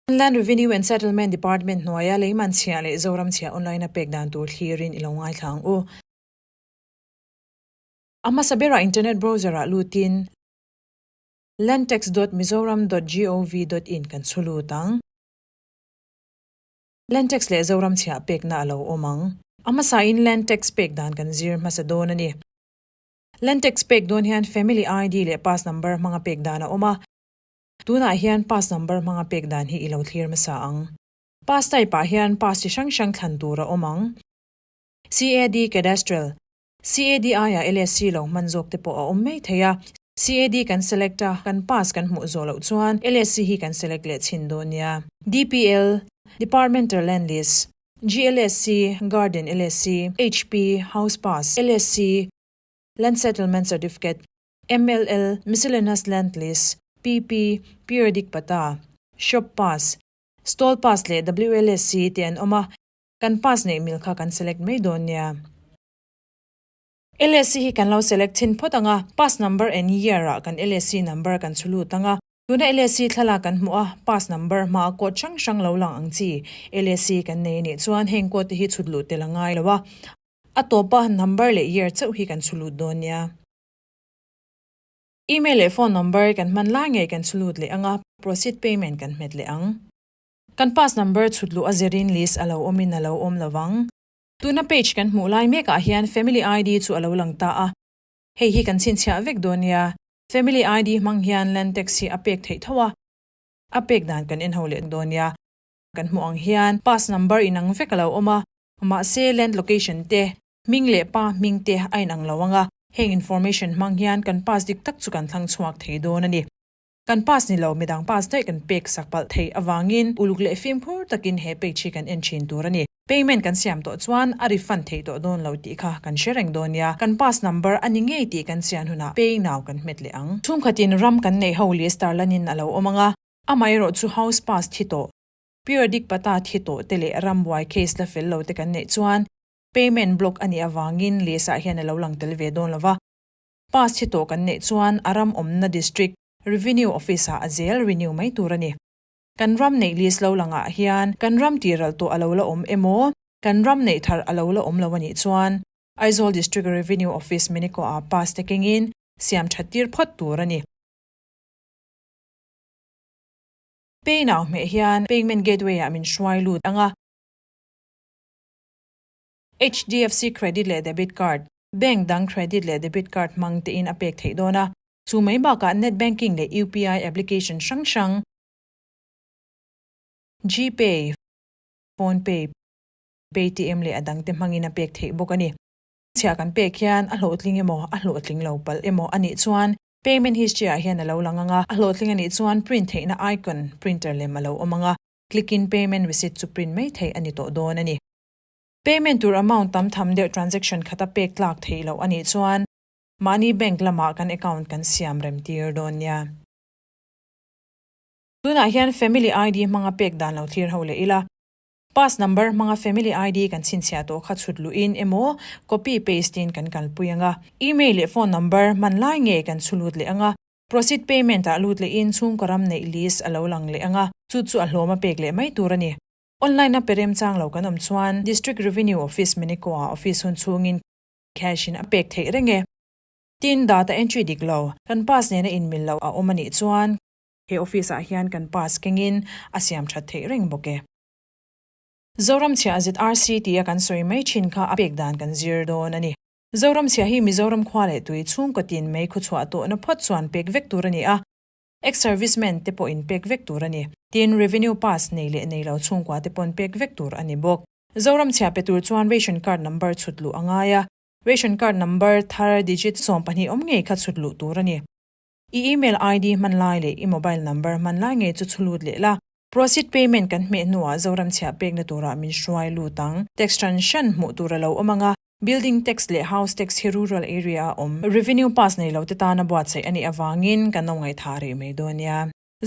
Inland Revenue and Settlement Department hnuaia Leiman chhiah leh Zoram chhiah online-a pek dan tur thlirin i lo ngaithlang u. A hmasa berah internet browser-ah lutin Landtax dot Mizoram dot gov dot in kan chhu lut ang. Landtax leh Zoram chhiah pekna a lo awm ang. A hmasa in Landtax pek dan kan zir hmasa dawn a ni. Landtax pek dawn hian Family ID leh Pass Number hmanga pek dan a awm a. Tunah hian pass number hmanga pek dan hi i lo thlir hmasa ang. Pass type ah hian pass chi hrang hrang thlan tur a awm ang. CAD Cadastral, CADI ah LSC lo hman zawk te pawh a awm maithei a. CAD kan select a, kan pass kan hmuh zawh loh chuan LSC hi kan select leh chhin dawn nia. DPL, Departmental Land Lease, GLSC, Garden LSC, HP, House Pass, LSC, Land Settlement Certificate, MLL, Miscellaneous Land Lease, PP, Periodic Pata, Shop Pass, Stall Pass leh WLSC te an awm a, kan pass neih mil kha kan select mai dawn nia. LSC hi kan lo select chhin phawt ang a, pass number and year ah kan LSC number kan chhu lut ang a, tuna LSC thlalak kan hmuh a, pass number hma a code hrang hrang lo lang ang chi. LSC kan nei a nih chuan heng code te hi chhut lut tel a ngai lo a, a tawpa number leh year chauh hi kan chhu lut dawn nia. Email leh phone number kan hman lai ngei kan chhulut leh anga proceed payment kan hmet leh ang. Kan pass number chhut luh a zerin list alo awmin alo awm lovang. Tuna page kan hmuh lai mek ah hian family ID chu alo lang ta a. Hei hi kan chhinchhiah vek dawn nia, family ID hmang hian land tax hi a pek theih tho a, a pek dan kan en ho leh dawn nia. Kan hmuh ang hian pass number inang vek a lo awm a, mahse land location te, hming leh pa hming te a inang lo ang a, heng information hmang hian kan pass dik tak chu kan thlang chhuak thei dawn a ni. Kan pass ni lo midang pass daih kan pek sak palh thei avangin uluk leh fimkhur takin he page hi kan en thin tur a ni. Payment kan siam tawh chuan a refund thei tawh dawn lo tih kha kan hre reng dawn nia, kan pass number a ni ngei tih kan sian hunah pay now kan hmet leh ang. Chhungkhatin ram kan neih ho leh Starlane-in a lo awm ang a, Amaherawh chu House Pass thi tawh, Periodic Pata thi tawh te leh rambuai case la fel lo te kan neih chuan Payment Block a nih avangin lehsah hian a lo lang tel ve dawn lo va. Pass thi tawh kan neih chuan a ram awmna District Revenue Office ah a zel renew mai tur a ni. Kan ram neih list lo langah hian kan ram tiralh tawh a lo la awm emaw, kan ram neih thar a lo la awm lo a nih chuan Aizawl District Revenue Office Minico ah pass te kengin siam that tir phawt tur a ni. Pay now hmeh hian payment gateway ah min hruai lut anga. HDFC Credit leh Debit Card, Bank dang Credit leh Debit Card hmang tein a pek theih dawn a. Chu mai bakah Net Banking leh UPI application hrang hrang, GPay, PhonePay, Paytm leh a dangte hmangin a pek theih bawk a ni. Chhiah kan pek hian a hlawhtling emaw a hlawhtling lo palh emaw a nih chuan Payment History ah hian a lo lang ang a. A hlawhtling a nih chuan Print theihna icon, Printer lem, a lo awm ang a. Click in Payment Receipt chu print mai thei a ni tawh dawn a ni. Payment tur amount tam tham deuh Transaction khata pek tlak theih loh a nih chuan mahni bank lamah kan account kan siam rem tir dawn nia. Tunah hian Family ID hmanga pek dan lo thlir ho leh ila. Pass number hmanga family ID kan chhinchhiah tawh kha chhut luhin emaw copy paste in kan kalpui anga email leh phone number hman lai nge kan chhu lut leh anga proceed payment ah lut lehin chhungkaw ram neih list a lo lang leh anga chu chu a hlawm a pek leh mai tur a ni. Online a pe rem chang lo kan awm chuan District Revenue Office Miniko ah office hun chhungin cash in a pek theih reng e tin data entry dik lo kan pass nena inmil loh a awm a nih chuan He office ah hian kan pass keng in a siam that theih reng bawk e. Zoramchhia zrc tia kan sawi mai thin kha a pek dan kan zir dawn a ni. Zoramchhia hi Mizoram khua leh tui chhungkaw tin mai khuachhuah tawhna phawt chuan pek vek tur a ni a, ex servicemen te pawhin pek vek tur a ni, tin revenue pass nei leh nei lo chhungkua te pawn pek vek tur a ni bawk. Zoramchhia pe tur chuan ration card number chhut luh a ngai a, ration card number thar digit sawmpahnih awm ngei kha chhut luh tur a ni. I email ID hman lai leh i mobile number hman lai ngei chu chhulut leh la. Proceed payment kan hmeh hnuah Zoramchhia pekna turah min hruai lut ang. Tax tan hran hmuh tur a lo awm ang a, Building Tax leh House Tax hi Rural Area a awm. Revenue Pass nei lote tana buatsaih a nih avangin ka nawmngaih thah reh mai dawn nia.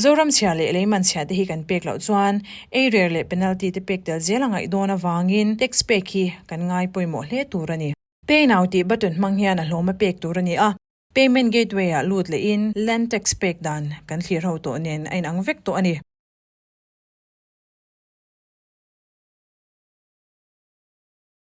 Zoramchhia leh leimanchhia te hi kan pek loh chuan eirer leh penalty te pek tel zel a ngaih dawn avangin tax pek hi kan ngai pawimawh hle tur a ni. Pay Now tih button hmang hian a hlawma pek tur a ni a, payment gateway ah lut leh in land tax pek dan kan thlir ho tawh nen a inang vek tawh a ni.